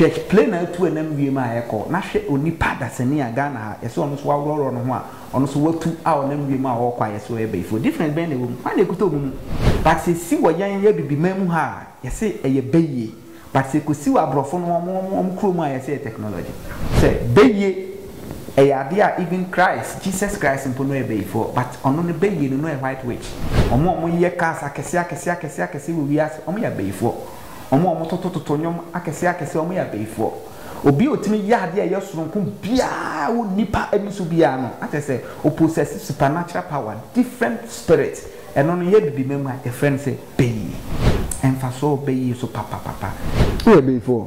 Hwɛ plane a atu ɛnam wiem a ɛkɔ, na hwɛ onipa dasani a Ghana ha yɛse ɔno nso waworɔworɔ ne ho a ɔno nso watu a ɔnam wiem a ɔɔkɔ a yɛse ɔyɛ bayifoɔ. Difference bɛn na ɛwɔ mu? Hwan na ɛkuta ɔmo mu? But sɛ ɛsi wɔ yɛn yɛ Abibiman mu ha a yɛse ɛyɛ bayie, but sɛ ɛkɔsi wɔ aborɔfo no ɔmo ɔmo ɔmo kuro mu a yɛse ɛyɛ technology. Sɛ bayie ɛyɛ adeɛ a even Christ, Jesus Christ mpo no ɔyɛ bayifoɔ but ɔno no bayie no na ɔyɛ white witch. Ɔmo a ɔmo yɛ cars akɛseɛ akɛseɛ akɛseɛ akɛseɛ wɔ wiase ɔmo yɛ abayifoɔ. Wɔn a wɔtotototo nnwom akɛseɛ akɛseɛ, wɔyɛ abayifoɔ. Obi a ɔtumi yɛ adeɛ a ɛyɛ sononko biara wɔ nnipa ani so biara no, na kyerɛ sɛ ɔ possess supernatural power, different spirit. Ɛno no, yɛ Abibima mu a, yɛfrɛ no sɛ bayi. Mfasoɔ wɔ bayi so papapapa. Woyɛ bayifoɔ?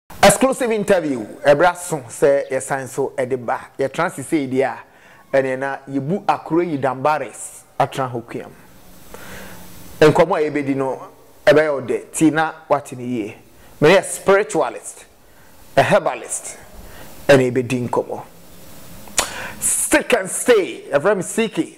Exclusive interview ɛbrɛ aso sɛ yɛsan nso de ba. Yɛtra ase sei deɛ a, ɛneɛ na yɛbu Akureyi Danbares atena hɔ kuam. Nkɔmmɔ a yɛbɛdi no, ɛbɛyɛ wo dɛ tie na woate no yie. Me ne a spiritualist, a herbalist ɛna yɛbɛdi nkɔmmɔ. Seek and Stay, yɛfrɛ me Seeky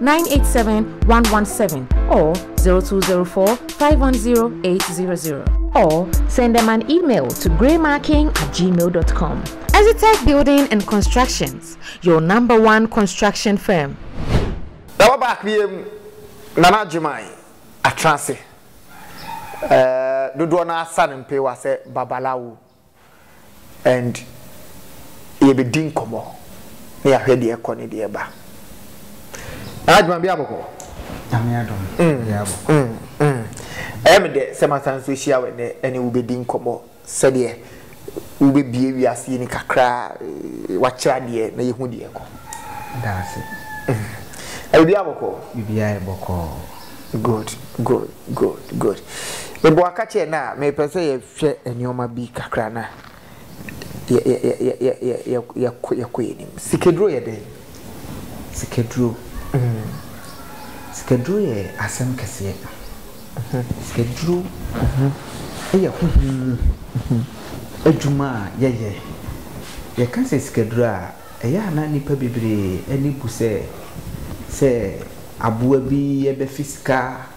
nine eight seven one one seven or zero two zero four five one zero eight zero zero or send them an email to greymarking at gmail dot com. Exitech Building and Constructions, your number one construction firm. Na wɔ back biam Nana Gyimai Atenase, ɛɛ dodoɔ no ara sa no mpeewa sɛ Babalawo. and yɛbɛdi nkɔmmɔ na yɛahwɛ deɛ ɛkɔ ne deɛ ɛba. Adwuma bi abɔkɔ. Nyame adom mm, bi abɔkɔ. Mm, mm. Ɛyɛ me dɛ sɛ masan nso ahyia wɔ ɛnɛ ɛne wobɛdi nkɔmmɔ sɛdeɛ wobɛbie wiase yi ni kakra eh, wakyerɛ adeɛ na yɛhu deɛ ɛkɔ. Daase. Mm. Ɛyɛ bi abɔkɔ. Bibi ayɛ bɔkɔ. Good, good, good, good. Mebɔ akakyɛ na mepɛ sɛ yɛ Hwɛ nneɛma bi kakra na yɛkɔ yɛn anim. Sikaduro yɛ dɛn? Sikaduro, sikaduro yɛ asɛm kɛseɛ. Sikaduro yɛ honhom mu adwuma a yɛyɛ. Yɛka sɛ sikaduro a, ɛyɛ a na nnipa bebree ani bu sɛ, sɛ aboa bi bɛfe sika.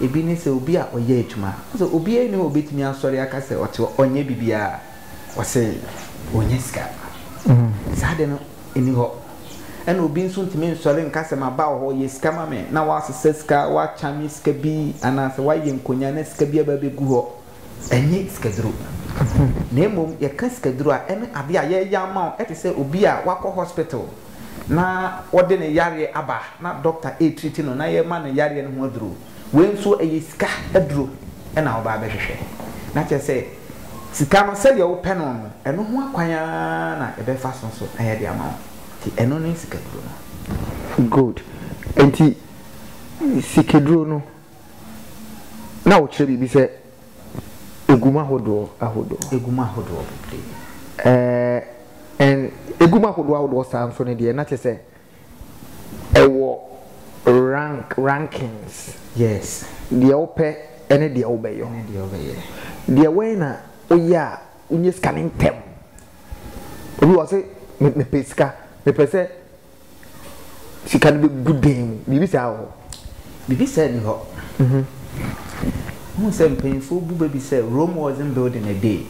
Ebi ne sɛ obi a ɔyɛ adwuma a, ɔse obiara nni hɔ a obetumi asɔre aka sɛ ɔte hɔ, ɔnyɛ biribiara, ɔse onnya sika. Saa ade no nni hɔ. Ɛna obi nso ntumi nsɔre nka sɛ maba wɔ hɔ, yɛ sika ma me, na woasesa sika, woakyame sika bi, anaasɛ woayɛ nkonyaa na sika bi aba abegu hɔ. Ɛnyɛ sikaduro na mmom yɛka sikaduro a ɛne adeɛ a yɛyɛ ama wo te sɛ obi a wakɔ hospital na wɔde ne yareɛ aba na dɔkta ɛretriti no na yɛma no yareɛ no ho aduro. Wei nso ɛyɛ sika aduro na wobaa bɛhwehwɛ. Na kyerɛ sɛ sika no sɛdeɛ wopɛ no no ɛno ho akwan ara na yɛbɛfa so nso na yɛde ama wo. Nti ɛno ne sikaduro no. Good. Nti sikaduro no Na wokyerɛ biribi sɛ egum ahodoɔ ahodoɔ. Egum ahodoɔ bebree. Ɛɛ ɛn egum ahodoɔ ahodoɔ saa nso no deɛ na kyerɛ sɛ ɛwɔ rank rankings. Yes. Deɛ wopɛ ɛne deɛ wobɛyɔ. Ɛne deɛ wobɛyɛ. Deɛ wɛn na woyɛ a wonyɛ sika ne ntɛm. Obi wɔ se mepɛ sika mepɛ sɛ. Sika no bɛgu dɛn mu? Biribi saa wɔ hɔ? Biribi saa nni hɔ. Wohu sɛ mpanyimfoɔ bu bɛ bi sɛ Rome wasn't built in a day.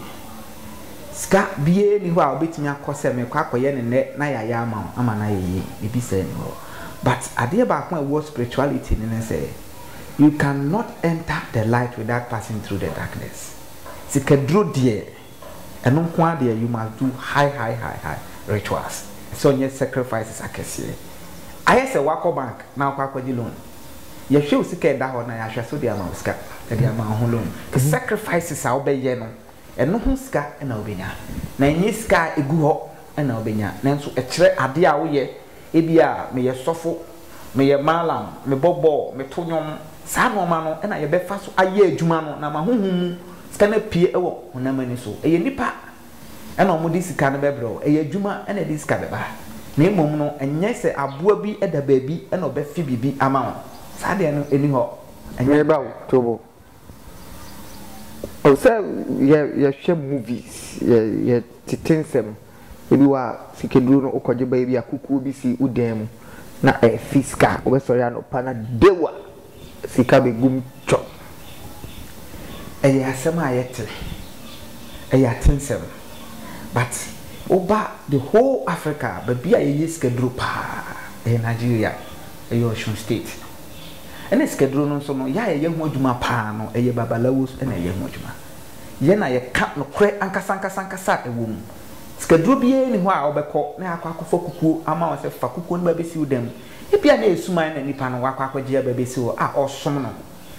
Sika biara nni hɔ a wobɛtumi akɔ sɛ merekɔ akɔyɛ no nnɛ na yɛayɛ ama wo ama no ayɛ yie. Biribi saa nni hɔ. But adeɛ baako a ɛwɔ spirituality no ne sɛ, you cannot enter the light without passing through the darkness. Sikaduro deɛ. Ɛno nko ara deɛ you must do high high high high rituals. Ɛsɛ ɔnyɛ sacrifices akɛseɛ. Ayɛ sɛ wakɔ bank na wakɔ akɔgye loan. Yɛhwɛ wo sika a ɛda hɔ na yɛahwɛ sɛ wode ama wo sika, yɛde ama wo ho loan. Sacrifices a wobɛyɛ no, ɛno ho sika na wobɛnya. Na ɛnyɛ sika a ɛgu hɔ na wobɛnya. Nanso ɛkyerɛ adeɛ a woyɛ Ebia meyɛ sɔfo, meyɛ mallam, mebɔ bɔɔl, meto nnwom. Saa nnoɔma no na yɛbɛfa so ayɛ adwuma no na ama honhom mu sika no apue wɔ honam ani so. Ɛyɛ nnipa na wɔde sika no bɛbrɛ wo, ɛyɛ adwuma na ɛde sika bɛba. Na mmom no, ɛnyɛ sɛ aboa bi da baabi na ɔbɛfe biribi ama wo. Saa deɛ no nni hɔ. Ɛnyɛ. Meba wo tobo Sɛ yɛhwɛ movies, yɛtete nsɛm, ebi wɔ a sikaduro no wokɔgye ba ebi a kukuo bi si wo dan mu na ɛrefi sika, wobɛsɔre anɔpa na deu a sika bɛgu mu twɔp. Ɛyɛ asɛm a yɛte, ɛyɛ atesɛm but woba the whole Africa a baabi a yɛyɛ sikaduro pa ara ɛyɛ Nigeria, ɛyɛ Osun state. Ɛna sikaduro no nso no, yɛ a yɛyɛ ho adwuma paa no, ɛyɛ babalawos na ɛyɛ ho adwuma. Yɛ na yɛka nokorɛ ankasa ankasa ankasa a ɛwɔ mu. Sikaduro biara nni hɔ a wobɛkɔ na yɛakɔ akɔfa kukuo ama wo sɛ fa kukuo no ba bɛsi wo dan mu. Ebia na ɛyɛ suman na nipa no wakɔ akɔgye aba bɛsi hɔ a ɔresom no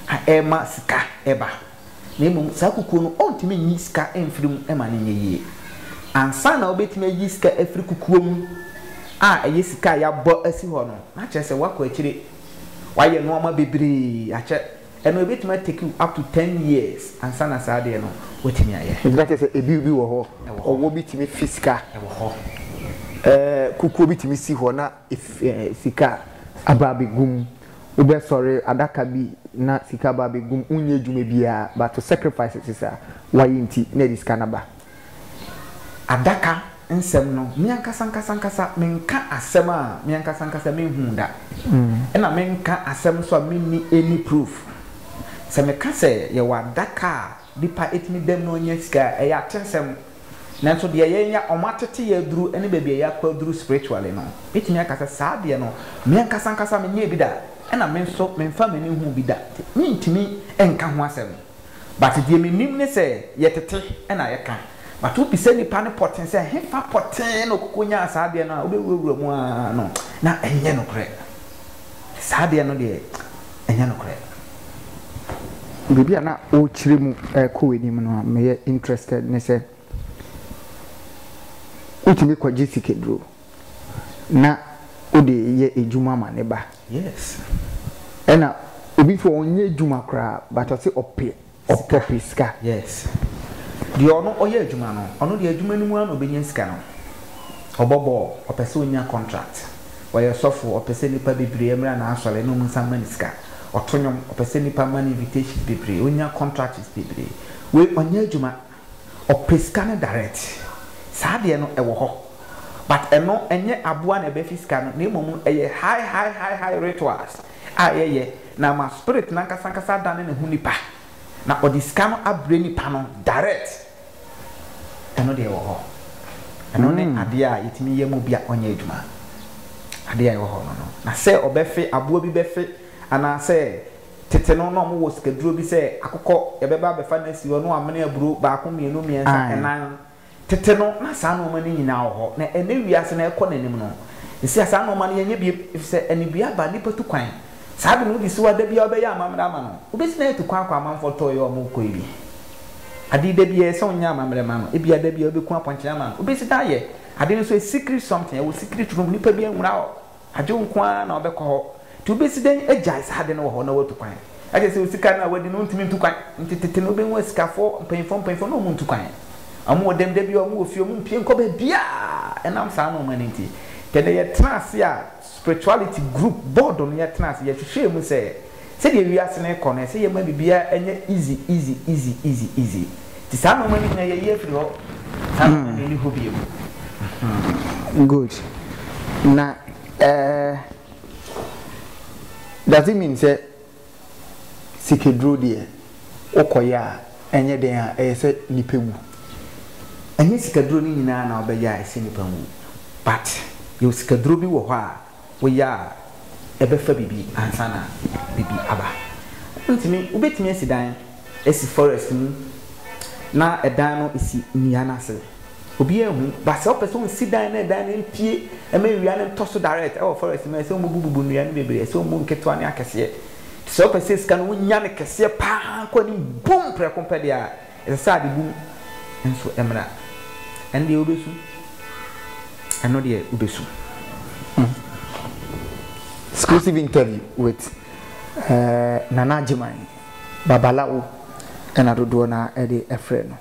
a ɛrema sika ba. na mmom saa kukuo no ɔntumi nyi sika mfiri mu ma no nyɛ yie. Ansa na wobɛtumi ayi sika afiri kukuo mu a ɛyɛ sika a yɛabɔ asi hɔ no, na kyerɛ sɛ woakɔ akyire, woayɛ nnoɔma bebree akyɛ, ɛno ɛbɛtumi ateki wo up to ten years ansa na saa adeɛ no woatumi ayɛ. Nti na kyerɛ sɛ ɛbill bi wɔ hɔ, ɔwɔ bi tumi fi sika, ɛɛ kukuo bi tumi si hɔ na. sika aba abegu mu, wo bɛ sɔre adaka bi na sika aba abegu mu, wo nyɛ adwuma biaa but wo sacrifices a wa yɛ nti na yɛde sika no aba. Adaka nsɛm no me ankasa ankasa ankasa me nka asɛm a me ankasa ankasa me nhuu da, ɛna me nka asɛm nso a me nni any proof. Sɛ me ka sɛ yɛwɔ adaka a Nipa tumi dam na ɔnya sika a, ɛyɛ atesɛm. Nanso deɛ yɛnya, wɔatete yɛn aduru ne baabi a yɛakɔ aduru spiritually no, mɛtumi aka sɛ saa deɛ no, me ankasa ankasa menyɛɛ bi da, ɛna me nso memfaa m'ani nhuu bi da, nti mentumi nka ho asɛm. But deɛ menim ne sɛ, yɛtete na yɛka. But wobisa nipa no pɔtee sɛ ɛhefa pɔtee na ɔkɔkɔnyaa saa adeɛ no a, wobɛwurawura mu ara no, na ɛnyɛ nokorɛ. saa deɛ no deɛ ɛnyɛ nokorɛ. Biribi a na wokyerɛ mu rekɔ w'anim no a meyɛ interested ne sɛ, wotumi kɔgye sikaduro na wode yɛ adwuma ma ne ba? Yes. Ɛna obi nso ɔnyɛ adwuma koraa but ɔse ɔpɛ Ɔpɛ pɛ sika yes deɛ ɔno ɔyɛ adwuma no ɔno deɛ adwuma no mu ara na ɔbɛnya sika no ɔbɔ bɔɔl ɔpɛ sɛ ɔnya contract ɔyɛ sɔfo ɔpɛ sɛ nipa bebree ɛmra na asɔre na ɔmu nsa mma no sika ɔto nwom ɔpɛ sɛ nipa mma no invitations bebree ɔnya contracts bebree wei ɔnyɛ adwuma ɔpɛ sika no direct saa deɛ no ɛwɔ hɔ but ɛno ɛnyɛ aboa na ɛbɛfi sika no na mmom ɛyɛ high high high high rituals. a yɛyɛ na ama spirit no ankasa ankasa adane ne ho nipa na ɔde sika no abrɛ nipa no direct, ɛno deɛ ɛwɔ hɔ. Ɛno ne adeɛ a yɛtumi yɛ ma obi a ɔnyɛ adwuma. Adeɛ a ɛwɔ hɔ no no. Na sɛ ɔbɛfe, aboa bi bɛfe, anaa sɛ tete no na wɔwɔ sikaduro bi sɛ akokɔ, yɛbɛba abɛfa no asi hɔ na wɔamene aburo baako, mmienu, mmiɛnsa, nnan. Tete no, na saa nnoɔma no nyinaa wɔ hɔ, na ɛnnɛ wiase no a ɛrekɔ n'anim no, nsia saa nnoɔma no yɛnyɛ bio, ɛfiri sɛ anibue aba, nnipa tu kwan. Saa ade no wode si hɔ a da biara wobɛyɛ amammerɛ ama no? Wobɛsi no ayɛ tu kwan akɔ amanfoɔ tɔɔ yi a wɔrekɔ yi bi? Ade yi da biara ɛsɛ sɛ wonyɛ amammerɛ ma no, ebia da biara wobɛku apɔnkye ama no? Wobɛsi no ayɛ ade no nso a secret something, ɛwɔ secret room, nnipa biara nhunaa hɔ. Adwo nko ara na ɔbɛkɔ hɔ. Nti wobɛsi dɛn agyae saa ade no wɔ hɔ na woatu kwan? Ɛkyerɛ sɛ osika no a wadi no wontumi ntu kwan. Nti tete no wobɛhu asikafoɔ mpanyimfoɔ mpanyimfoɔ na wɔntu kwan. Wɔwɔ dɛm da biara wɔwɔ fie wɔmpue nkɔ baabiara ɛnam saa nnoɔma no nti. Tɛnɛ yɛtena ase a spirituality group board no yɛtena ase yɛhwehwɛɛ mu sɛ, Sɛdeɛ wiase no rekɔ no, ɛsɛ yɛma biribiara nyɛ easy, easy, easy, easy, easy. Nti saa nnoɔma no nyinaa yɛyi afiri hɔ. Saa nnoɔma no nni hɔ bio. Hmm. Good. Na eh, does it mean sɛ sikaduro deɛ wokɔyɛ a ɛnyɛ dɛn a ɛyɛ sɛ nipa wu? Ɛnyɛ sikaduro no nyinaa na wobɛyɛ a ɛsɛ nipa wu. But yɛwɔ sikaduro bi wɔ hɔ a woyɛ a ɛbɛfa biribi ansa na biribi aba. Wontumi, wobɛtumi asi dan asi forest mu na ɛdan no si nnua no ase, obiara nhu, but sɛ wopɛ sɛ wosi dan na ɛdan no mpue ma awia no ntɔ so direct ɛwɔ forest mu a, ɛsɛ sɛ wobubububu nnua no bebree, ɛsɛ sɛ wobu nketewa ne akɛseɛ. Nti sɛ wopɛ sɛ sika no wonya no kɛseɛ paa kɔ anim boom prɛko pɛ deɛ a, Ɛsɛ sɛ adebɔ mu nso mmra. Ɛno deɛ wobɛsu, ɛno deɛ wobɛsu. Exclusive interview with Nana Agyeman, Babalawo na dodoɔ no ara de frɛ no.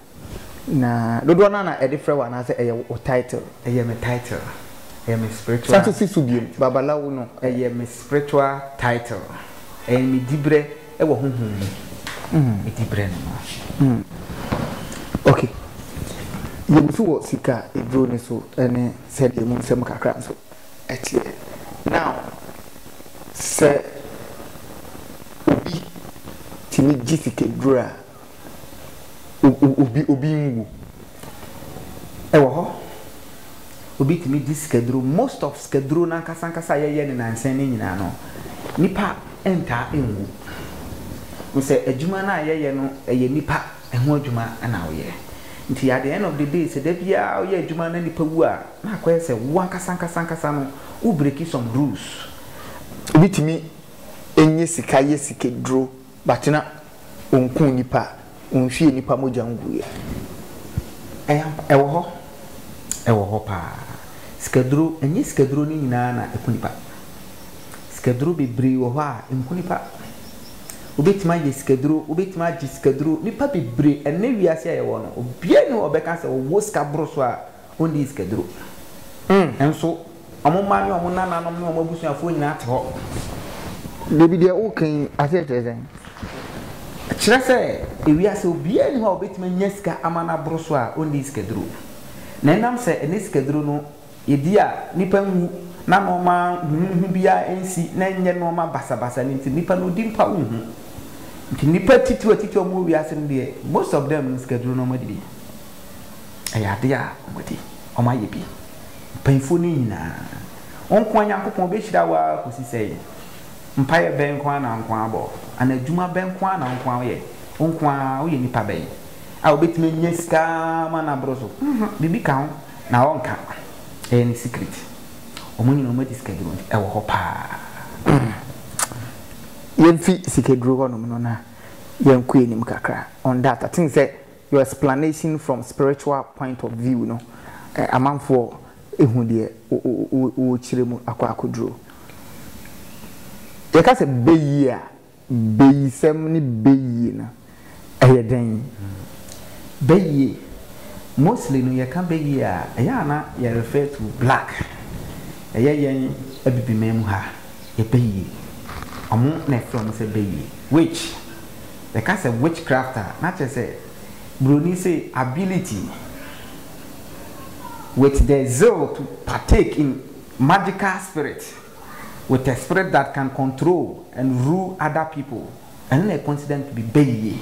Na dodoɔ no ara na ɛde frɛ wo anaasɛ ɛyɛ wo title? Ɛyɛ me title, ɛyɛ me spiritual title. San si so bio, Babalawo no. Ɛyɛ me spiritual title, ɛyɛ me diberɛ. Wɔ honhom mu medi berɛ no ma. Ok, yɛn nso wɔ sika aduro no so ne sɛdeɛ mu nsɛm kakra nso teɛ. Now, sɛ obi tumi gye sika aduro a. obi obi nwu. Ɛwɔ hɔ. Obi tumi di sikaduro. Most of sikaduro no ankasa ankasa a yɛyɛ ne nansa no nyinaa no, nipa ntaa nwu. Mo sɛ adwuma no a yɛyɛ no ɛyɛ nipa ɛho adwuma na woyɛ. Nti at the end of the day sɛ da biara woyɛ adwuma na nipa wu a, na akɔyɛ sɛ wo ankasa ankasa ankasa no wo breaki some rules. Obi tumi nye sika yɛ sikaduro. But na ɔnkuu nnipa a, ɔnhwiee nnipa mogya nguiɛ. Ɛyɛ ampa, ɛwɔ hɔ, ɛwɔ hɔ paa. Sikaduro, ɛnyɛ sikaduro no nyinaa na ɛku nnipa. Sikaduro bebree wɔ hɔ a, ɛnku nnipa. Wobɛtumi ayɛ sikaduro, wobɛtumi agye sikaduro, nnipa bebree, ɛnnɛ wiase a yɛwɔ no, obiara nni hɔ a ɔbɛka sɛ ɔwɔ sika boro so a Wonnii sika duro. Nso wɔn mma ne wɔn nananom ne wɔn abusuafoɔ nyinaa te hɔ. Dabi deɛ woka yi aseɛ kyerɛ sɛn? Ɛkyerɛ sɛ ewiase obiara nni hɔ a obetumi anya sika ama no aboro so a onnii sikaduro. Na ɛnam sɛ ɛnnɛ sikaduro no yɛdi a nnipa nwu na nnoɔma huhuhu biara nsi na ɛnyɛ nnoɔma basabasa no nti nnipa no di mpa wonhu. Nti nnipa atitiriw atitiriw a wɔwɔ wiase no deɛ most of them no sikaduro na wɔadi bi. ɛyɛ adeɛ a wɔde wɔn ayɛ bi. Mpanyinfoɔ no nyinaa, wo nko ara Nyankopɔn bɛhyira wo ara kɔsi sɛn? Mpaeɛ bɛn nko ara na wo nko ara bɔ? Anaa adwuma bɛn nko ara na wo nko ara woyɛ? Wo nko ara woyɛ nipa bɛn a wobɛtumi anya sika ma no aboro so? Nhwɛ, biribi ka ho na ɔnka. Ɛyɛ ne secret. Wɔn nyinaa wɔn adi sikaduro nti ɛwɔ hɔ paa. Yɛmfi sikaduro hɔnom no na yɛnkɔ anim kakra on that. I think sɛ Your explanation from spiritual point of view no amanfoɔ ɛhu deɛ wokyerɛ mu akɔ akɔduro. Yɛka sɛ bɛyie a, bɛyisɛm ne bɛyie no ɛyɛ dɛn? Bɛyie, mostly no yɛka bɛyie a ɛyɛ a na yɛ refer to black, ɛyɛ yɛn abibiman mu ha yɛ bɛyie, wɔn na ɛfrɛ wɔn sɛ bɛyie, witch. Yɛka sɛ witchcraft a, na kyerɛ sɛ Buroni se ability with the zeal to partake in magical spirit with a spirit that can control and rule other people. Ɛno na considered to be bayie.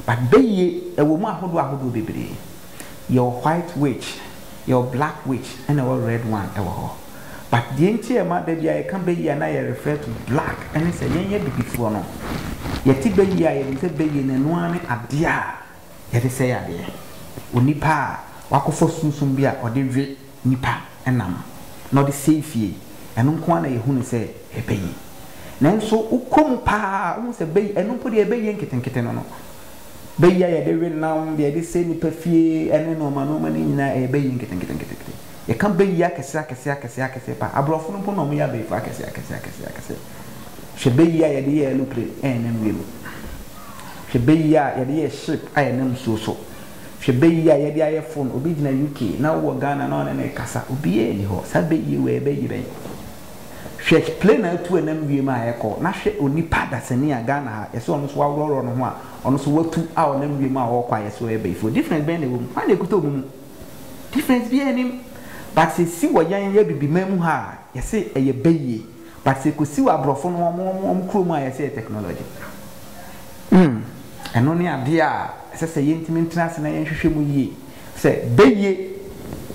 But bayie, ɛwɔ mu ahodoɔ ahodoɔ bebree. Yɛwɔ white witch, yɛwɔ black witch, ɛna ɛwɔ red one wɔ hɔ. But deɛ nti a ɛma da bi a yɛka bɛyie a na yɛ refer to black ɛne sɛ yɛn yɛ abibifoɔ no, yɛte bɛyie a yɛnim sɛ bɛyie no ɛno ara ne adeɛ a yɛde sɛe adeɛ. Onipa a wakɔfa sunsum bi a ɔde we nipa nam na ɔde sɛe fie, ɛno nko ara na yɛhu no sɛ ɛyɛ bɛyie. Nanso wokɔ mu pa ara a wohu sɛ bɛyie, ɛno mpo deɛ bɛyie nketenkete no no, bɛyie a yɛde we nam, deɛ yɛde sɛe nipa fie ɛne nnoɔma nnoɔma no nyinaa ɛyɛ bɛyie nketenkete. Yɛka bɛ yi akɛse akɛse akɛse akɛse paa. Aborɔfo no mpo na wɔyɛ abayifoɔ akɛse akɛse akɛse akɛse. Hwɛ bɛ yi a yɛde yɛ aeroplane a ɛnam wiem. Hwɛ bɛ yi a yɛde yɛ ship a ɛnam nsuo so. Hwɛ bɛ yi a yɛde ayɛ phone. Obi gyina UK na wowɔ Ghana na ɔne no rekasa. Obiara nni hɔ. Saa bɛ yi wei bɛyi bɛn? Hwɛ plane a atu ɛnam wiem a ɛrekɔ na hwɛ onipa dasani a Ghana ha yɛse ɔno nso waworɔworɔ ne ho a ɔno nso watu a ɔnam wiem a ɔrekɔ a yɛse ɔyɛ bayifoɔ. Difference bɛn na ɛwɔ mu? Hwan na ɛkuta wɔn mu? Difference biaa nnim but sɛ ɛsi wɔ yɛn yɛ abibiman mu ha a yɛse ɛyɛ bɛ yie but sɛ ɛkɔsi wɔ abrɔfo no ɔmo ɔmo ɔmo kuro mu a yɛse ɛyɛ technology hmm ɛno ne adeɛ a ɛsɛ sɛ yɛntumi ntena ase na yɛnhwehwɛ mu yie sɛ bɛ yie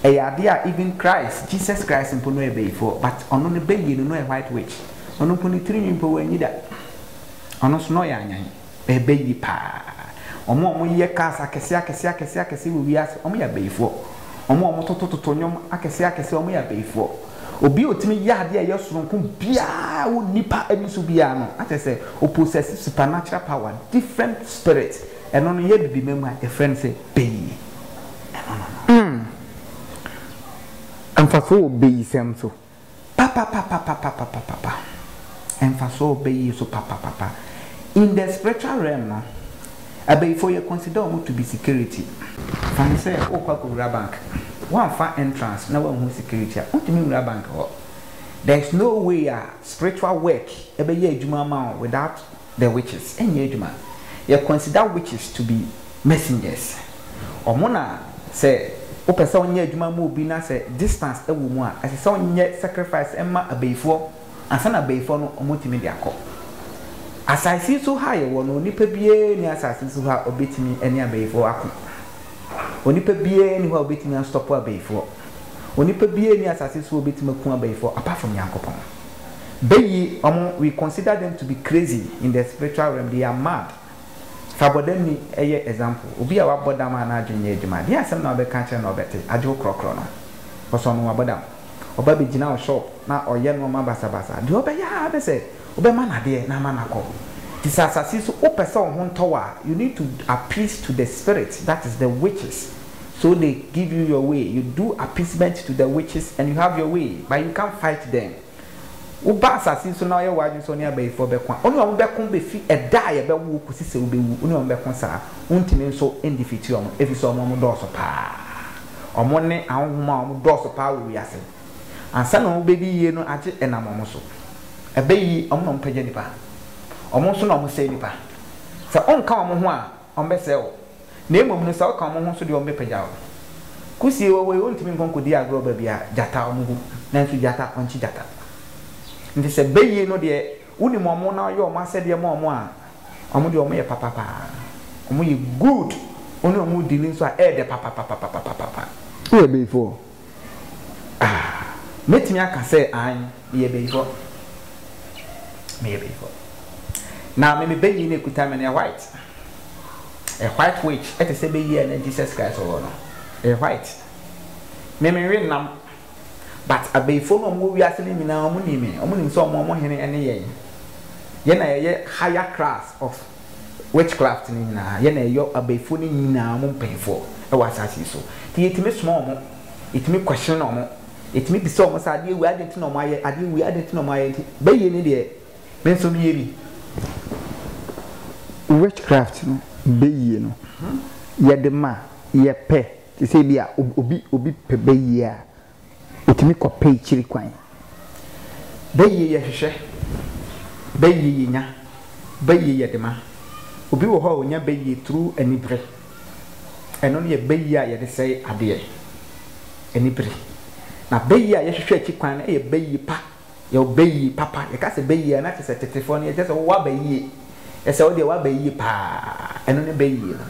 ɛyɛ adeɛ a even Christ Jesus Christ mpo no ɔyɛ bɛyifoɔ but ɔno no bɛ yie no no ɔyɛ white witch ɔno mpo ne tiri nwi mpo wannyi da ɔno nso no ɔyɛ anyan. Ɛbɛyi paa. Wɔn a wɔyɛ cars akɛseɛ akɛseɛ akɛseɛ akɛseɛ wɔ wiase, wɔyɛ abayifoɔ. Wɔn a wɔtotototo nnwom akɛseɛ akɛseɛ, wɔyɛ abayifoɔ. Obi a ɔtumi yɛ adeɛ a ɛyɛ sononko biara wɔ nnipa ani so biara no, na kyerɛ sɛ ɔ possess supernatural power, different spirit. Ɛno no, yɛ Abibima mu a, yɛfrɛ no sɛ Beyi. Ɛno no no. Mfasoɔ wɔ Beyisɛm so. Papapapapapapapapa mfaso a ɔbɛ yie so papapapa in the spiritual realm no abayifoɔ yɛ consider ɔmo to be security. Fa no sɛ wokɔ akɔ wura bank wamfa entrance na wanhu security a wontumi nwura bank hɔ there is no way a spiritual work ɛbɛ yɛ adwuma ama wo without The witches nyɛ adwuma yɛ consider witches to be messengers ɔmo na sɛ wopɛ sɛ ɔnyɛ adwuma ma obi na sɛ distance ɛwɔ mu a ɛsɛ sɛ ɔnyɛ sacrifice ɛma abayifoɔ ansa na abayifoɔ no ɔmo tumi de akɔ asase yi so ha yɛwɔ no onipa biara nni asase yi so ha a ɔbɛtumi ɛne abayifoɔ ako onipa biara nni hɔ a ɔbɛtumi astɔpo abayifoɔ onipa biara nni asase yi so a ɔbɛtumi aku abayifoɔ apart from Nyankopɔn. Beyi wɔn we consider them to be crazy in the spiritual realm, they are mad. Fa bɔdamni yɛ example, obi a wabɔ dam a n'adwene nyɛ adwuma, deɛn asɛm na wobɛka akyerɛ no na ɔbɛte, agye wo korɔkorɔ no? Because ɔno wabɔ dam. Ɔba bɛgyina wo shop na ɔyɛ nnoɔma basabasa, deɛ ɔbɛyɛ ara ne sɛ wobɛma no adeɛ na ama no akɔ. Nti sɛ asase yi so wopɛ sɛ wo ho ntɔ wo a, you need to appease to the spirit, that is the witches, so they give you your way, you do appeasement to the witches and you have your way, but you can't fight them. Woba asase yi so na woayɛ w'adwene sɛ wo ne abayifoɔ bɛko a, wo ne wɔn bɛko bɛfi ɛda a yɛbɛwo wo kɔsi sɛ wobɛwu, wo ne wɔn bɛko saa. Wontumi nso ndifiti wɔn, ɛfiri sɛ wɔn dɔɔso pa ara. Wɔn ne ahonhom a wɔdɔɔso pa ara wɔ wiase. Ansa na wɔbɛdi yie no agye ɛnam wɔn so. Ɛbɛyɛ yi, wɔn na wɔpagya nnipa. Wɔn nso na wɔsɛe nnipa. Sɛ wonka wɔn ho a, Wɔbɛsɛe wo. Na mmom no, sɛ woka wɔn ho nso deɛ, wɔbɛpagya wo. Kusie wɔ hɔ yi, wɔntumi nkɔ nkɔdi agorɔ baabi a gyata wɔ mu. Nanso gyata, wɔnkye gyata. Enti sɛ bayie no deɛ, wonim wɔn na woyɛ wɔn asɛdeɛ ma wɔn a, wɔn deɛ, wɔyɛ papa pa ara. Wɔyɛ good. Wo ne wɔn dili nso a, ɛyɛ dɛ papapapapapapa. Woyɛ bayifoɔ Ah, mɛtumi aka sɛ, aane, meyɛ bayifɔ. Meyɛ bayifɔ. Na me me banyin no ɛkuta me no yɛ white. Ɛyɛ white which ɛte sɛ bayi a na Jesus Christ ɔwɔ no. Ɛyɛ white. Me me nwe nam. But abayifɔ no a wɔwɔ wiase no nyinaa wɔnim me. Wɔnim sɛ wɔn wɔn hene ɛne yɛn. Yɛn na yɛyɛ higher class of. witchcraft no nyinaa yɛ na ɛyɔ abayifoɔ no nyinaa wɔn mpanyinfoɔ ɛwɔ asaase yi so nti yɛtumi soma wɔn yɛtumi question wɔn yɛtumi bisa wɔn sɛ adeɛ wei adeɛ nti na wɔn ayɛ adeɛ wei adeɛ nti na wɔn ayɛ nti bɛyie ne deɛ me nso meyɛ bi witchcraft no bɛyie no yɛde ma yɛpɛ te sɛ bi a obi obi pɛ bɛyie a Otumi kɔ pɛ ekyir kwan. Bɛ yie yɛ hwehwɛ, bɛ yie yɛ nya, bɛ yie yɛ de ma. Obi wɔ hɔ a onya bɛ yie through anibere. Ɛno no yɛ bɛ yie a yɛde sɛe adeɛ, anibere. Na bɛ yie a yɛhwehwɛ akyi kwan no yɛ bɛ yie pa. Yɛwɔ bɛ yie papa. Yɛka sɛ bɛ yie a, na kyerɛ sɛ tetefoɔ no, yɛkyerɛ sɛ wowɔ abɛ yie. Yɛ sɛ wo deɛ w'abɛ yie paa. Ɛno ne bɛ yie no.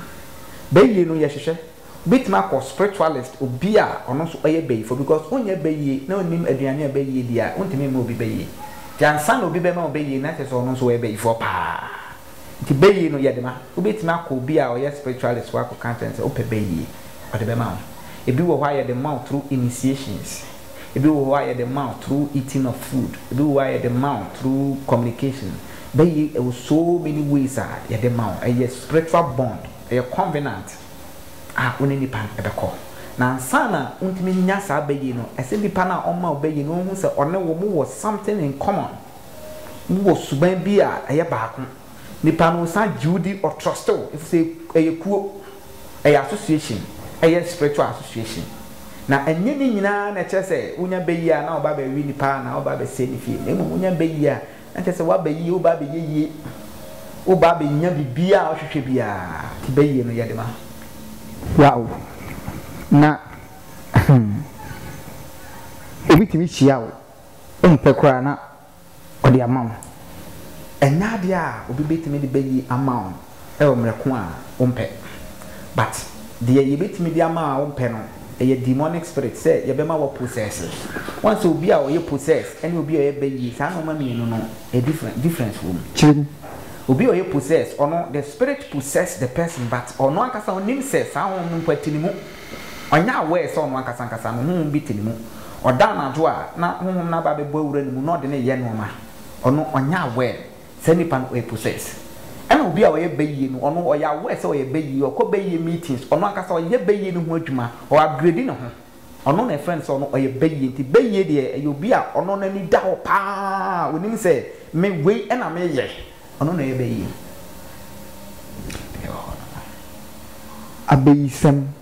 Bɛ yie no yɛhwehwɛ. Wobɛtumi akɔ spiritualist, obi a ɔno nso ɔyɛ bayifoɔ because wonyɛ bayie na wonnim aduane a bayie di a, wontumi mma obi bayie. Nti ansa na obi bɛma wo bayie na kyerɛ sɛ ɔno nso ɔyɛ bayifoɔ paa. Nti bayie no yɛde ma. Wobɛtumi akɔ obi a ɔyɛ spiritualist hɔ akɔka akyerɛ no sɛ wopɛ bayie, ɔde bɛma wo. Ɛbi wɔ hɔ a yɛde ma wo through initiations, ɛbi wɔ hɔ a yɛde ma wo through eating of food, ɛbi wɔ hɔ a yɛde ma wo through communication. Bayie ɛwɔ so many ways a yɛde ma wo. Ɛyɛ spiritual bond, ɛyɛ covenant. a wo ne nipa no bɛkɔ. Na ansa na wontumi nya saa bɛyie no, ɛsɛ nipa no a ɔma wo bɛyie no ɔhu sɛ ɔne wo mowɔ something in common. Mowɔ suban bi a ɛyɛ baako. Nipa no ɔsan gye wo di, ɔtrɔste wo ɛfiri sɛ ɛyɛ kuo, ɛyɛ association, ɛyɛ spiritual association. Na ɛnyɛ ne nyinaa na ɛkyerɛ sɛ wonya bɛyie a na woba abɛwe nipa anaa woba abɛsɛe ne fie. Na mmom wonya bɛyie a Na kyerɛ sɛ woaba yie, woreba abɛyɛ yie, woreba abɛnya biribiara a wohwehwɛ biara, nti bɛyie no yɛ de ma wo o. Na hmm, obi tumi hyia wo, wompɛ koraa na ɔde ama wo. Ɛnyɛ adeɛ a obi bɛtumi de bɛyie ama wo. wɔ mmerɛ ko a wompɛ but deɛ yɛbɛtumi de ama a wompɛ no ɛyɛ demonic spirit sɛ yɛbɛma wo possess woahu sɛ obi a ɔyɛ possess ɛne obi a ɔyɛ ba yie saa nnoɔma mmienu no different difference wɔ mu kyerɛ mu obi a ɔyɛ possess ɔno the spirit possess the person but ɔno ankasa ɔnim sɛ saa honhom no mpo te ne mu ɔnyɛ aware sɛ ɔno ankasa ankasa no honhom bi te ne mu ɔda anadwo a na honhom no aba abɛbɔ awura ne mu na ɔde ne yɛ nnoɔma ɔno ɔnyɛ aware Saa nipa no ɔyɛ possess. Ɛna obi a ɔyɛ bayie no ɔno ɔyɛ aware sɛ ɔyɛ bayie, ɔkɔ bayie meetings, ɔno ankasa ɔyɛ bayie no ho adwuma, ɔ upgrade ne ho. Ɔno na ɛfrɛ no sɛ ɔno ɔyɛ bayie. Nti bayie deɛ ɛyɛ obi a ɔno n'ani da hɔ paa, ɔnim sɛ me wei na meyɛ. Ɔno na ɔyɛ bayie. Abayisɛm.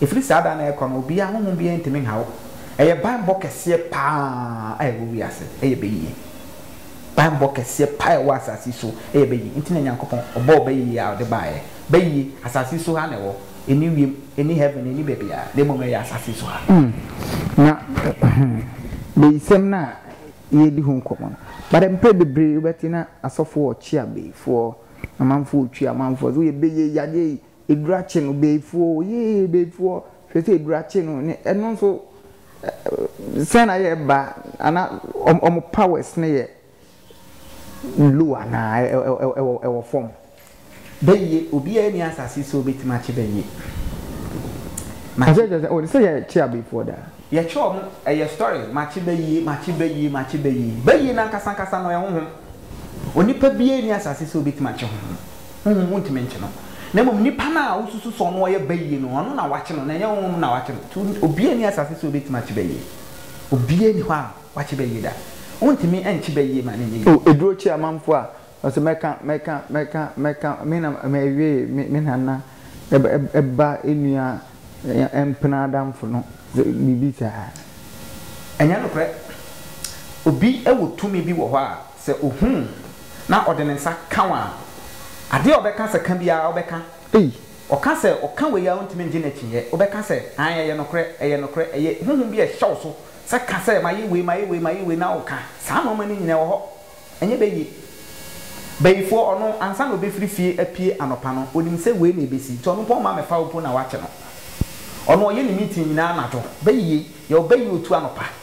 Ɛfiri saa da no rekɔ no, obiara, honhom biara ntumi nha wo. Ɛyɛ banbɔ kɛseɛ pa ara a ɛwɔ wiase, ɛyɛ bayie. Banbɔ kɛseɛ pa ara a ɛwɔ asase yi so, ɛyɛ bayie. Nti na Nyankopɔn, ɔbɔɔ bayie a ɔde baeɛ. Bayie, asase yi so ha na ɛwɔ. Ɛnni wiem, ɛnni heaven, ɛnni baabiara, na mmom ɛyɛ asase yi so ha. Na bayisɛm no a yɛredi ho nkɔmmɔ no, but mprɛ bebree wobɛte na asɔfoɔ ɔkye abayifoɔ, amanfoɔ ɔtwi amanfoɔ, sɛ woyɛ bayie, yadeɛ yi, Edwurakye no, Beefuo, yee, Beefuo, hwɛ sɛ Edwurakye no, ne, ɛno nso, sɛn na yɛ ba, ana, wɔn, wɔn powers no yɛ low anaa, ɛ, ɛ, ɛ, ɛwɔ, ɛwɔ fam? Bɛyie, obiara nni asase so a obetumi akye bɛyie. Makye. Ɔsɛ kyerɛ sɛ, oh, sɛ yɛkye abeefuo daa. Yɛkye wɔn, ɛyɛ story, makye bɛyie, makye bɛyie, makye bɛyie. Bɛyie no ankasa ankasa no, ɛyɛ honhom. Onipa biara nni asase so a obetumi akye honhom. Honhom wontumi nkye no, na mmom nipa no a wosusu sɛ ɔno ɔyɛ bayie no, ɔno na wɔakye no, na ɛnyɛ honhom na wɔakye no. Nti obiara nni asase so a obetumi akye bayie. Obiara nni hɔ a wakye bayie da. Wontumi nkye bayie ma no nyɛ yie. O aduro kyi amanfoɔ a ɔsɛ mɛka mɛka mɛka mɛka me na mɛwee me me nana ba nua mpena adamfo no biribi saa. Ɛnyɛ nokorɛ. Obi wɔ tumi bi wɔ hɔ a. Sɛ ohu wo na ɔde ne nsa ka wo a, adeɛ a ɔbɛka sɛ ka biara wobɛka? Ei, ɔka sɛ ɔka wei a wontumi ngye no akyinnyeɛ, wobɛka sɛ, Aane, ɛyɛ nokorɛ, ɛyɛ nokorɛ, ɛyɛ honhom bi a ɛhyɛ wo so sɛ ka sɛ mayɛ wei, mayɛ wei, mayɛ wei na woka? Saa nnoɔma no nyina ɛwɔ hɔ, ɛnyɛ bɛ yie. Bayifoɔ, ɔno ansa na ɔbɛfiri fie apue anɔpa no, ɔnim sɛ wei na ɛbɛsi, nti ɔno mpo ɔmma mɛfa wo mpo na woakye no. Ɔno ɔyɛ ne meeting nyina anadwo, bɛ yie, yɛwɔ bɛ yie otu anɔpa.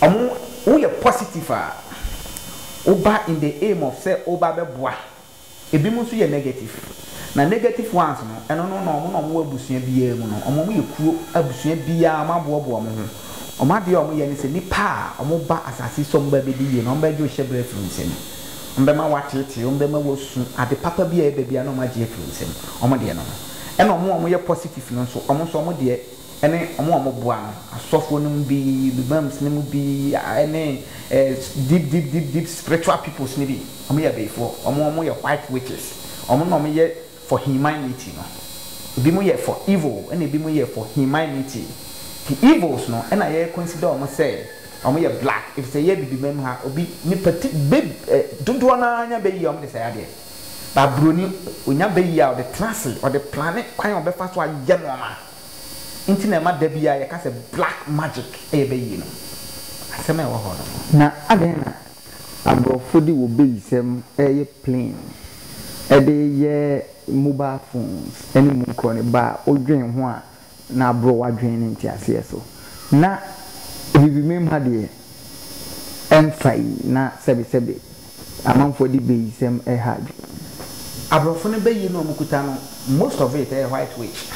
Ɔmo woyɛ positive a woba in the aim of sɛ woba bɛboa, ebi mo nso yɛ negative na negative ones no ɛno no na ɔmo na ɔmo wɔ abusua biaa mu no ɔmo ɔmo yɛ kuo abusua biaa ɔmo aboaboa ɔmo ho ɔmo adeɛ a ɔmo yɛ ne sɛ nipa a ɔmo ba asase so a ɔmo ba bɛdi yie no ɔmo bɛgye wo hyɛbrɛ afiri wo nsam ɔmo bɛma wo ateetee ɔmo bɛma wo asu ade papa biaa ɛba biaa na ɔmo agye afiri wo nsam ɔmo deɛ no no ɛna ɔmo a ɔmo yɛ positive no nso ɔmo nso ɔmo deɛ ne wɔn a wɔboa no, asɔfoɔ no mu bi, Lubim's no mu bi, ne eh, deep, deep, deep, deep spiritual peoples no bi. Wɔn yɛ abayifoɔ. Wɔn, wɔn yɛ white witches. Wɔn na wɔn yɛ for humanity no. Ebi mo yɛ for evil, ɛna ebi mo yɛ for humanity. The evils no, ɛna yɛ consider wɔn sɛ wɔn yɛ black. Efisɛ yɛ Abibimam ha, obi ne pati be eh, dodoɔ naa nya bɛyi a wɔn de sɛe adeɛ. Ba Buroni, onya bɛyi a ɔde tena ase, ɔde plane kwan a ɔbɛfa so ayɛ nneɛma. nti na ɛma da biara yɛka sɛ black magic yɛ bayi no? Asɛm a ɛwɔ hɔ no. Na adɛn na aborɔfo de wɔ bayisɛm reyɛ plane de reyɛ mobile phones ne mu nkorɔ ne ba a wodwen ho a na aborɔ w'adwene ne nteaseɛ so na biribi memha deɛ ɛmfa yi na sɛbesɛbe. Amanfoɔ de bayisɛm reha adwene. Abrɔfo no bayi no a wɔkuta no most of it ɛyɛ white witch.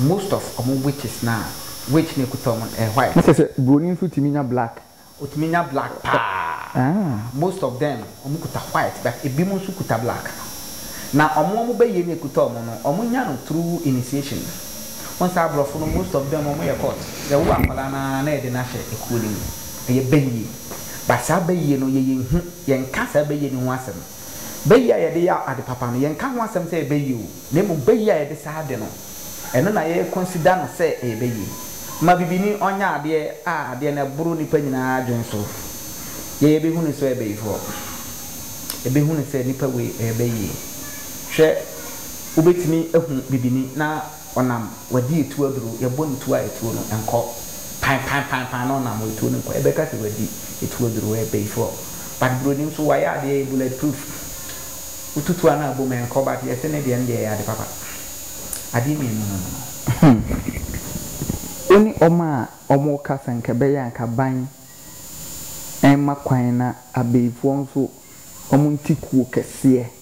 Most of wɔn witches no a witch no a ɛkuta wɔn no ɛyɛ white. Kyerɛ sɛ broni nso tumi nya black? Ɔtumi nya black paa. Most of them wɔkuta white but ebinom nso kuta black. Na wɔn a wɔn bayie no a ɛkuta wɔn no, wɔnya no through initiation. Wohu sɛ abrɔfo no most of them wɔyɛ cult. Yɛwo akwadaa no ara na yɛde no ahyɛ ekuo no mu. Ɛyɛ bayie. But saa bayie no yɛyɛ nhu, yɛnka saa bayie no ho asɛm. Bayie a yɛde yɛ ade papa no, yɛnka ho asɛm sɛ ɛyɛ bayie o, na mmom bayie a yɛde saa ade no, ɛno na yɛ consider no sɛ ɛyɛ bayie. Ma bibini ɔnyɛ adeɛ a adeɛ no ɛboro nnipa nyinaa adwene so. Yɛ yɛbɛhu no sɛ ɔyɛ bayifoɔ. Yɛbɛhu no sɛ nipa wei ɛyɛ bayie. Hwɛ, wobɛtumi ahu bibini na. ɔnam wadi etuo aduru yɛbɔ no tuo a etuo no nkɔ pan pan pan pan na ɔnam etuo no nkɔ yɛbɛka sɛ wadi etuo aduru wɔyɛ payifoɔ but buroni nso wayɛ adeɛ yɛ bullet proof wotutu a na abom ɛnkɔ but yɛse ne deɛ no deɛ ɛyɛ ade papa adeɛ mmienu no no wone wɔn a wɔreka sɛ nka ɛbɛyɛ a nka aban mma kwan na abayifoɔ nso wɔn nte kuo kɛseɛ.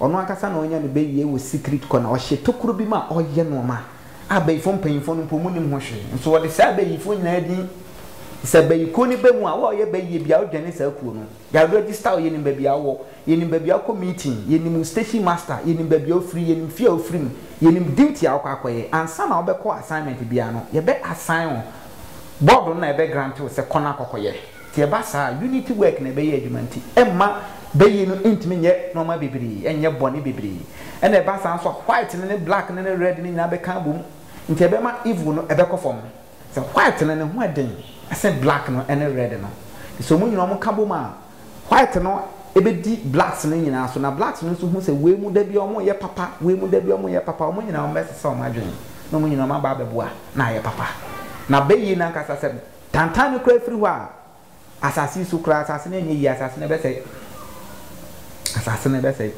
Ɔno ankasa na ɔnya no bɛ wie wɔ secret kɔ na ɔhyɛ tokuro bi mu a ɔyɛ nnoɔma a bayifoɔ mpanyinfoɔ no mpo wɔnnim ho hwee nso ɔde saa bayifoɔ nyinaa din sɛ bayikuo no bɛ mu a wo a ɔyɛ bayie biara wodwane saa kuo no yɛa register wo yɛnim baabi a wowɔ yɛnim baabi a wokɔ meeting yɛnim wo station master yɛnim baabi a wofiri yɛnim fie a wofiri mu yɛnim duty a wokɔ akɔyɛ ansa na wobɛkɔ assignment biara no yɛbɛ assign wo board no na ɛbɛ grant wo sɛ kɔ na kɔkɔyɛ Sɛ ɛba saa a, unity work na ɛbɛyɛ adwuma nti, ɛmma bayie no ntumi nyɛ nnoɔma bebree, ɛnyɛ bɔne bebree. Ɛna ɛba saa nso a, white no ne black no ne red no nyinaa bɛka abom, nti ɛbɛma evil no ɛbɛkɔ fam. Sɛ white no, ne ho ɛden sen black no ne red no. Nti sɛ wɔn nyinaa wɔn ka bom a, white no ɛbɛdi blacks no nyinaa so, na blacks no nso hu sɛ wei mu da biara wɔn yɛ papa, wei mu da biara wɔn yɛ papa, wɔn nyinaa wɔn bɛsesa wɔn adwene, na wɔn nyinaa wɔn aba abɛboa na ayɛ papa. Na bayie no ankasa sɛ. Tantan no koraa firi hɔ a asase yi so koraa asase no anyɛ yie asase no bɛsɛe asase no bɛsɛe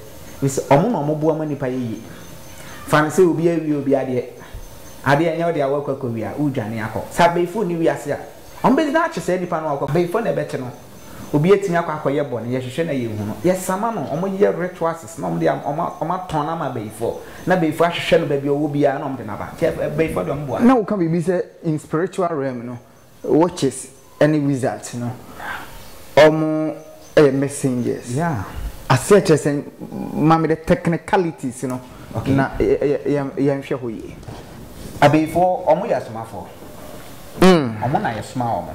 efisɛ wɔn na wɔn boa ma nipa yɛ yie fa no sɛ obi awie obi adeɛ adeɛ ɛnyɛ ɔde awɔ akɔ akɔ wia wodwane akɔ sɛ abɛyifoɔ ni wiase a wɔn bɛgyina akye saa nipa no wakɔ abɛyifoɔ na ɛbɛkye no obi atumi akɔ akɔyɛ bɔ no yɛhwehwɛ na yɛhu no yɛsama no wɔn yɛ rituals na wɔn de wɔn atɔn ama abɛyifoɔ na abɛyifoɔ ahwehwɛ no baabi ɔwɔ biara na wɔn de no aba nti abɛyifoɔ de wɔn boa. Na woka biribi sɛ In spiritual realm no witches ɛne wizards no ɔmo yɛ messengers ase ɛkyerɛ sɛ maame the technicalities no na yɛn hwɛ hɔ yie. Abeyifoɔ ɔmo yɛ asomafoɔ ɔmo na yɛ soma ɔmo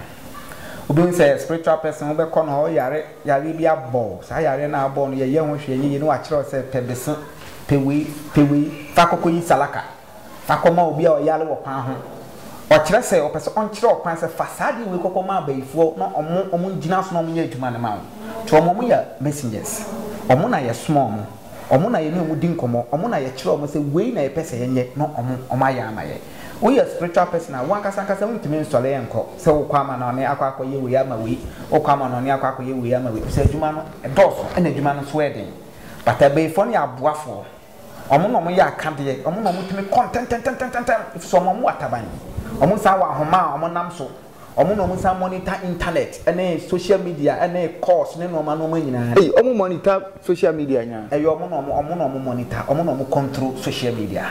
obi hu sɛ spiritual person wobɛ kɔ no ɔyare yareɛ bi abɔ wo saa yareɛ no a abɔ wo no yɛ yɛ ho hwee ɛnyɛ yie na wakyerɛ wo sɛ pɛ bese pɛ wei pɛ wei fa kɔkɔ yi salaka. Fa kɔma obi a ɔyare wɔ kwan ho. Ɔkyerɛ sɛ ɔpɛ sɛ ɔnkyerɛ wo kwan sɛ fa saa adeɛ wei kɔkɔ ma abayifoɔ na ɔmo ɔmo ngyina so na ɔmo nyɛ adwuma no ma wo. To ɔmo ɔmo yɛ messengers. Ɔmo na yɛ soma ɔmo. Ɔmo na yɛne ɔmo di nkɔmɔ. Ɔmo na yɛ kyerɛ ɔmo sɛ wei na yɛpɛ sɛ yɛnyɛ na ɔmo ɔmo ayɛ ama yɛ. Wo yɛ spiritual person a wo ankasa ankasa wo ntumi nsɔre nkɔ sɛ wo kɔ ama no ɔne akɔ akɔ yɛ wei ama wei. Wo kɔ ama no ɔne akɔ akɔ yɛ wei ama wei. Efisɛ adwuma no ɛdɔɔso ɛna adwuma no nso ɛyɛ den. But abayifoɔ no yɛ aboafoɔ. Wɔn na wɔyɛ akadeɛ, wɔn na wɔtumi kɔ ntɛmntɛmntɛmntɛm ɛfiri sɛ wɔn wɔ ataban, wɔn san wɔ ahoma a wɔnam so, wɔn na wɔsan monitor internet ne social media ne calls ne nnoɔma nnoɔma nyinaa. Ei, wɔn monitor social media nyinaa, ɛyɛ wɔn na wɔn na wɔn monitor, wɔn na wɔn control social media,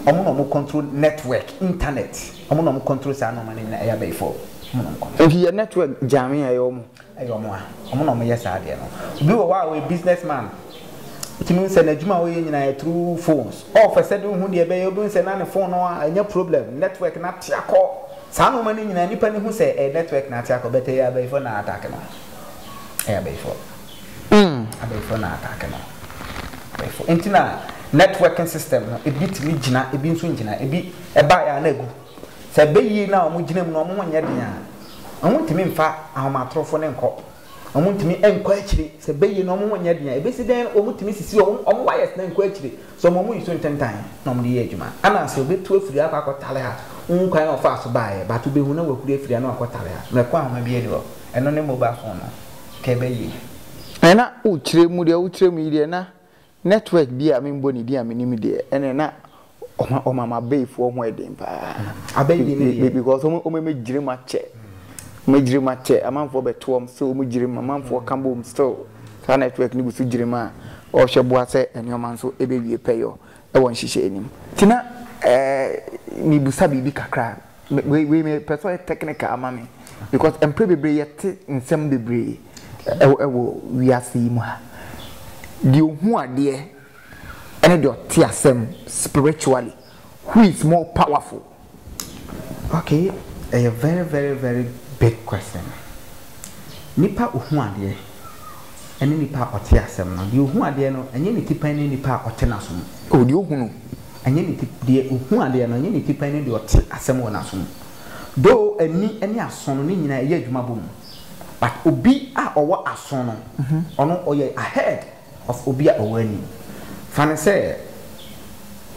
wɔn na wɔn control network, internet, wɔn na wɔn control saa nnoɔma no nyinaa, ɛyɛ abɛyifoɔ, wɔn na wɔn control. Nti yɛ network gyame a ɛyɛ wɔn. Ɛyɛ wɔn a wɔn na wɔyɛ saa adeɛ no. Obi wɔ hɔ a ɔyɛ business man, wotumi hu sɛ n'adwuma a ɔyɛ nyinaa yɛ through phones. Ɔɔpɛ sɛ de wohu deɛ ɛbɛyɛ, wobɛhu sɛ na ne phone no anya problem, network no ate akɔ. Saa nnoɔma no nyinaa nnipa no hu sɛ ɛyɛ network na ate akɔ but ɛyɛ abayifoɔ na attack no. Ɛyɛ abayifoɔ. Mm, abayifoɔ na attack no. Abayifoɔ. Nti na networking system no, ebi tumi gyina, ebi nso ngyina. Ebi ɛbaeɛ a na agu. Sɛ bayie no a wɔgyina mu no wɔn ho nyɛ den a, wɔntumi mfa ahomatorofo no nkɔ. Wɔntumi nkɔ akyiri. Sɛ bayie no wɔn ho nyɛ den a, ɛbɛsi dɛn na wɔtumi sisi wɔn wɔn wires no nkɔ akyiri? Sɛ wɔn yi so ntentan na wɔde yɛ adwuma a, ɛna sɛ wɔbɛtu afiri akɔ akɔtare ha. Wohu kwan a wɔfaa so baeɛ, but wobɛhu na wɔahuri afiri a na wɔakɔtare ha. Mmerɛ ko ahoma bi ani hɔ, ɛno ne mobile phone no, nka ɛbɛyie. Ɛna wokyerɛ mu deɛ wokyerɛ mu yi deɛ na Network bi a memmɔ ne din a menim deɛ, ɛnneɛ na ɔma ɔma m'abayifoɔ ho yɛ den pa ara. Abayi din no deɛ? Be because wɔn wɔn mmɛgyina mu akyɛ. Wɔagyina mu akyɛ, amanfoɔ bɛto wɔn, still wɔgyina mu, amanfoɔ ka bom, still saa network no gu so gyina mu a, ɔrehwɛ boa sɛ nneɛma nso bɛwie pɛyɔ. Wɔ nhyehyɛɛ no mu. Nti na eh mebusa biribi kakra wei wei me pɛ sɛ ɔyɛ technical ama me because mprɛ bebree yɛ te nsɛm bebree ɛwɔ ɛwɔ wiase yi mu ha deɛ ɔhu adeɛ ɛne deɛ ɔte asɛm spiritually who is more powerful. Okay ɛyɛ very very very big question. Nipa a ɔhu adeɛ ɛne nipa a ɔte asɛm no. Deɛ ɔhu adeɛ no ɛnyɛ ne ti pɛn ne nipa a ɔte n'aso mu. Oh deɛ ɔhu no ɛnyɛ ne ti deɛ ɔhu adeɛ no ɛnyɛ ne ti pɛn ne deɛ ɔte asɛm wɔ n'aso mu. Though ani ne aso no ne nyinaa ɛyɛ adwuma bɔ mu but obi a ɔwɔ aso no ɔno ɔyɛ ahead. of obi a ɔwɔ anim. Fa no sɛ,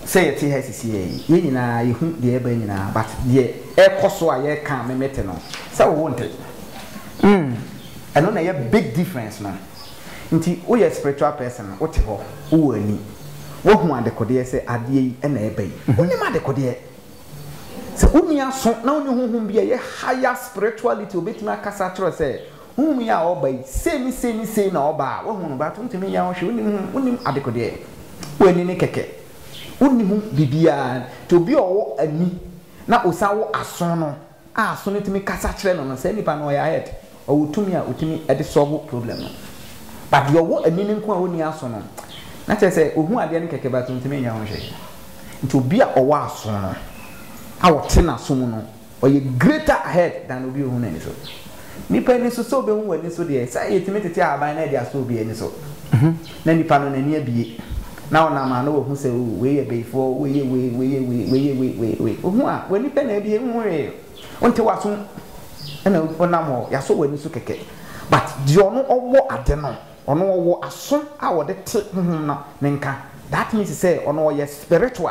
sɛ yɛte ha sesei yi, yɛn nyinaa yɛhu deɛ ɛreba nyinaa, but deɛ ɛrekɔ so a yɛreka a memete no, sɛ wo wonte. Mm, ɛno na ɛyɛ big difference no. Nti woyɛ spiritual person no, wote hɔ, wowɔ ani, woahu adekodeɛ sɛ adeɛ yi na ɛreba yi. Wonim adekodeɛ. Sɛ wonni aso na wonni honhom bi a ɛyɛ higher spirituality a ɔbɛtumi akasa akyerɛ wo sɛ Honhom yi a ɔba yi, sei ne sei ne sei na ɔba a, woahu no, but wontumi nyɛ ho hwee, wonnim ho, wonnim adekodeɛ, woanni no kɛkɛ, wonni ho biribiara. Nti obi a ɔwɔ ani na ɔsan wɔ aso no, a aso no tumi kasa kyerɛ no no, saa nipa no ɔyɛ ahead, ɔwɔ tumi a ɔtumi de solve problem no. But deɛ ɔwɔ ani no nko a ɔnni aso no, na kyerɛ sɛ ɔhu adeɛ no kɛkɛ but ɔntumi nyɛ ho hwee. Nti obi a ɔwɔ aso no, a ɔte n'aso mu no, Ɔyɛ greater ahead than obi a ohu n'ani so. Nnipa ani so, sɛ obehu w'ani so deɛ, sɛ yetumi tete ahaban na yɛde asɔ obi ani so, na nipa no n'ani abue, na ɔnam a na wahu sɛ oh, wei yɛ bayifoɔ, wei yɛ wei, wei yɛ wei, wei yɛ wei, wei, wei. Ohu a, w'ani pɛ na abue, nhu hwee, wonte w'aso mu, ɛna ɔnam hɔ, yɛasɔ w'ani so kɛkɛ. But deɛ ɔno ɔwɔ ade no, ɔno ɔwɔ aso a ɔde te honhom no ne nka. That means sɛ ɔno ɔyɛ spiritual.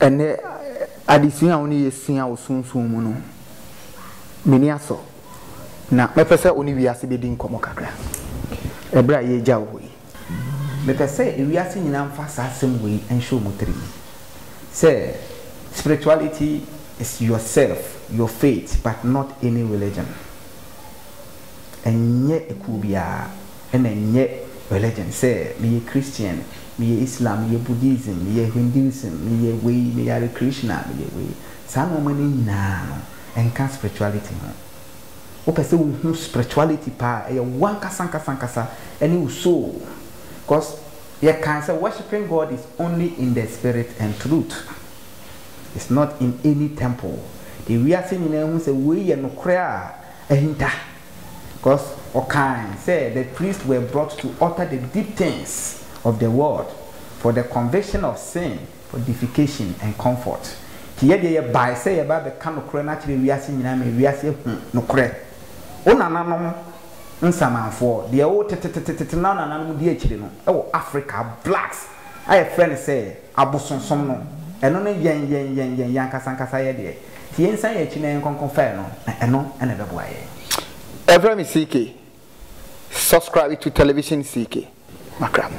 Ɛnnɛ adesua a wo ne yɛ sua wɔ Sunsum mu no, m'ani asɔ, na mɛpɛ sɛ wo ne wiase bɛdi nkɔmmɔ kakra, ɛberɛ a yɛregya wo hɔ yi. Mepɛ sɛ ewiase nyinaa mfa saa asɛm wei nhyɛ wɔn tirim, sɛ Spirituality is yourself, your faith, but not any religion. Ɛnyɛ ekuo biara. na ɛnyɛ religion sɛ meyɛ Christian, meyɛ Islam, meyɛ Buddhism, meyɛ Hinduism, meyɛ wei, meyɛ Hare Krishna, meyɛ wei. Saa nnoɔma no nyinaa no, ɛnka spirituality ho. Wopɛ sɛ wohu spirituality paa a, ɛyɛ wo ankasa ankasa ankasa ne wo soul. Because yɛkae sɛ worshipping God is only in the spirit and truth. It's not in any temple. Deɛ wiase nyinaa hu sɛ wei yɛ nokorɛ a ahinta. Because ɔkae sɛ the priests were brought to utter the deep things of the world for the conviction of sin, purification and comfort. Nti yɛ deɛ yɛbae sɛ yɛba abɛka nokorɛ no akyerɛ wiase nyinaa ma wiase ahu nokorɛ. Wo nananom nsamanfoɔ, deɛ wo tetetetetete na wo nananom di akyire no wɔ Africa, blacks a yɛfrɛ no sɛ, Abosonsom no, ɛno ne yɛn, yɛn, yɛn, yɛn, yɛn ankasa ankasa yɛn deɛ. Nti yɛnsan yɛn akyi na yɛnkɔ nkɔfa ɛno, na ɛno na ɛbɛboa yɛn. Ɛfrɛ me CK. Subscribe to Television CK. Makra mo.